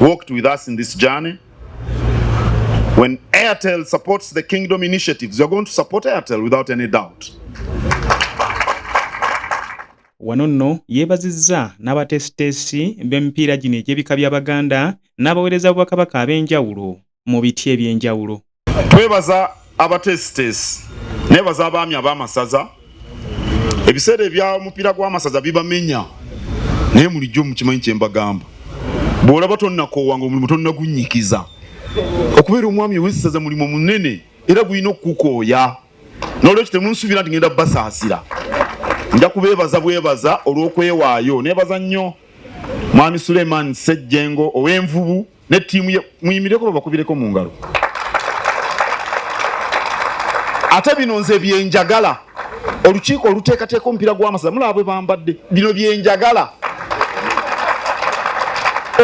walked with us in this journey. When Airtel supports the Kingdom initiatives, you're going to support Airtel without any doubt. Wano nno yeebazizza n'abateesiteesi b'emipiira gino egy'ebika by'Abaganda n'abaweereza b'Obwakabaka ab'enjawulo mu biti eby'enjawulo. twebaza abateesiteesi nebaza abaami ab'amasaza ebiseera ebya omupiira gw'amasaza bibamenya naye mulijjo mukimanyi kyembagamba bw'olaba tonnakoowa nga omulimu tonnagunyikiza okubeera omwami ow'essaza mulimu munene era gulina okukukooya n'olwekyo temunsuubira nti ngenda basaasira nja kubeebaza bwebaza olw'okwewaayo nebaza nnyo mwami suleiman ssejjengo ow'envubu ne tiimu ye muyimireko babakubireko mu ngalo ate bino nze byenjagala olukiiko oluteekateeka omupiira gw'amasaza mulaba bwe bambadde bino byenjagala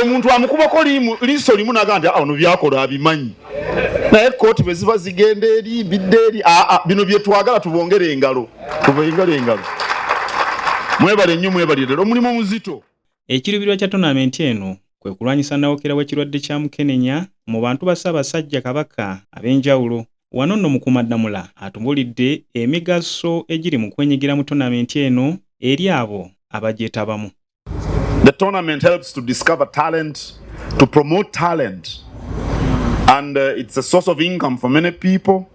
omuntu amukubako liiso limu naga nti ono ah, byakola abimanyi naye kooti bwe ziba zigenda eri mbidde eri ah, ah, bino byetwagala tubongere engalo tubongere engalo mwebale nnyo mwebalire omulimu omuzito Ekiruubirwa kya tonaamenti eno kwe kulwanyisa nnawokera w'ekirwadde kya Mukenenya mu bantu ba Ssaabasajja Kabaka ab'enjawulo. Wano nno Mukuumaddamula atubuulidde emigaso egiri mu kwenyigira mu tonaamenti eno eri abo abagyetabamu. The tournament helps to discover talent, to promote talent, and uh, it's a source of income for many people.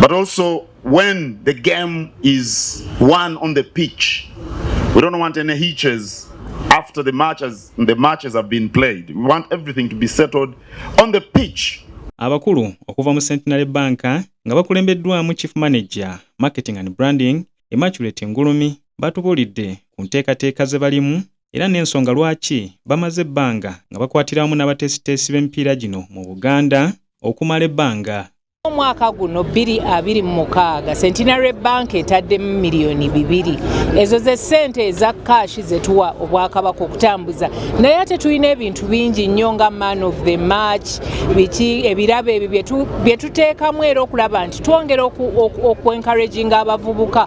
But also when the game is won on the pitch, we don't want any hitches after the matches, the matches have been played. We want everything to be settled on the pitch. Abakulu okuva mu Centenary Bank nga bakulembeddwamu Chief Manager, Marketing and Branding, Immaculate Ngulumi batubuulidde ku nteekateeka ze balimu era n'ensonga lwaki bamaze ebbanga nga bakwatira wamu n'abateesiteesi b'emipiira gino mu Buganda okumala ebbanga Omwaka guno 2026 Centenary Bank etaddemu miliyoni bibiri ezo ze ssente eza kaashi ze tuwa Obwakabaka okutambuza naye ate tulina ebintu bingi nnyo nga man of the match biki ebirabo ebyo bye tuteekamu era okulaba nti twongera okwenkaraginga abavubuka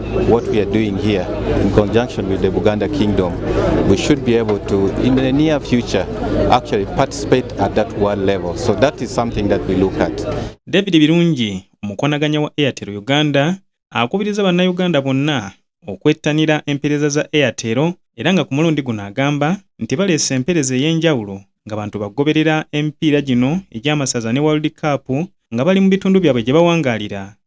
what we are doing here in conjunction with the Buganda Kingdom, we should be able to, in the near future, actually participate at that world level. So that is something that we look at. David Birungi, omukonaganya wa Airtel Uganda, akubiriza bannayuganda bonna okwettanira empereza za Airtel era nga ku mulundi guno agamba nti baleese empereza ey'enjawulo nga bantu bagoberera emipiira gino egy'amasaza ne World Cup nga bali mu bitundu byabwe gye bawangaalira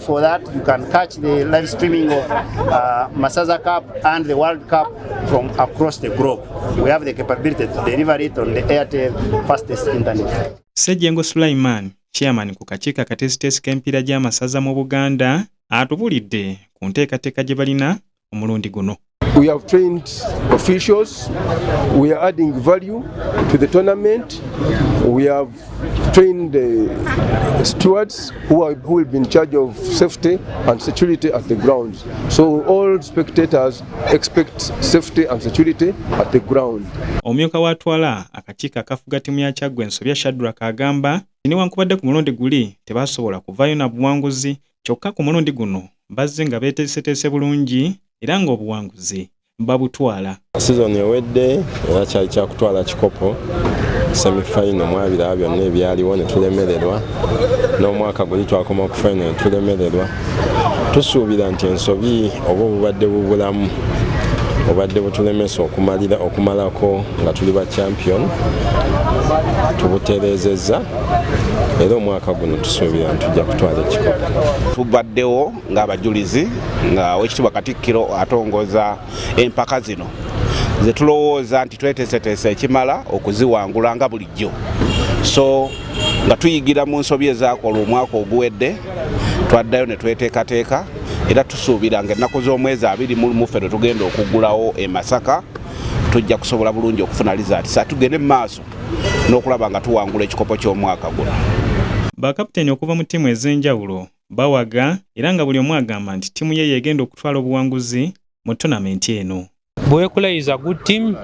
For that, you can catch the live streaming of uh, Masaza Cup and the World Cup from across the globe. We have the capability to deliver it on the Airtel fastest internet. Sejengo Sulaiman, chairman ku kakiiko akatesiteesi k'emipiira gy'amasaza mu Buganda, atubulidde ku nteekateeka gye balina omulundi guno We have trained officials. We are adding value to the tournament. We have trained uh, stewards who, are, who will be in charge of safety and security at the grounds. So all spectators expect safety and security at the ground. Omumyuka w'atwala akakiiko akafuga ttiimu ya Kyaggwe Nsobya Shadrack agamba nti newankubadde ku mulundi guli tebaasobola kuvaayo na buwanguzi kyokka ku mulundi guno bazze nga beeteeseteese bulungi era ng'obuwanguzi babutwala. Sizoni ewedde era kyali kyakutwala kikopo semifayino mu abiraba byonna ebyaliwo ne tulemererwa n'omwaka guli twakoma ku fayino ne tulemererwa tusuubira nti ensobi oba obubadde bubulamu obadde butulemesa okumalira okumalako nga tuli ba champion tubutereezezza era omwaka guno tusuubira nti tujja kutwala ekikopo tubaddewo ng'abajulizi nga wekitibwa katikkiro atongoza empaka zino zetulowooza nti tweteeseteesa ekimala okuziwangula nga bulijjo so nga tuyigira mu nsobi ezakola omwaka oguwedde twaddayo ne tweteekateeka era tusuubira nga ennaku z'omwezi abiri mulumuffe lwe tugenda okuggulawo e masaka tujja kusobola bulungi okufuna lizaati sa tugende mu maaso n'okulaba nga tuwangula ekikopo ky'omwaka guno. Bakaputeni okuva mu ttiimu ez'enjawulo bawaga era nga buli omu agamba nti ttiimu ye y'egenda okutwala obuwanguzi mu tonamenti eno. Buwekula is a good team.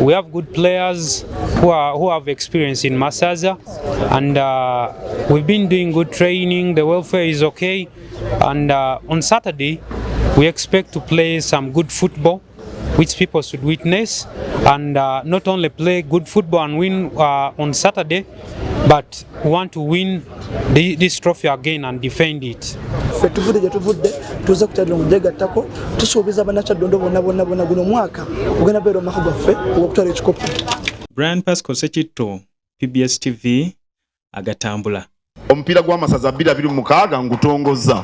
We have good players who, are, who have experience in Masaza and uh, we've been doing good training. The welfare is okay. And uh, on Saturday, we expect to play some good football. which people should witness and uh, not only play good football and win uh, on Saturday, but want to win the, this trophy again and defend it. ffe tuvudde gye tuvudde tuze kukyadira mu gyegattako tusuubiza bannakyaddondo bonna bonna bonna guno omwaka ogenda beera omwaka gwaffe ogwokutwala ekikopo brian pasco sekitto pbs tv agatambula omupiira gw'amasaza 26 ngutongozza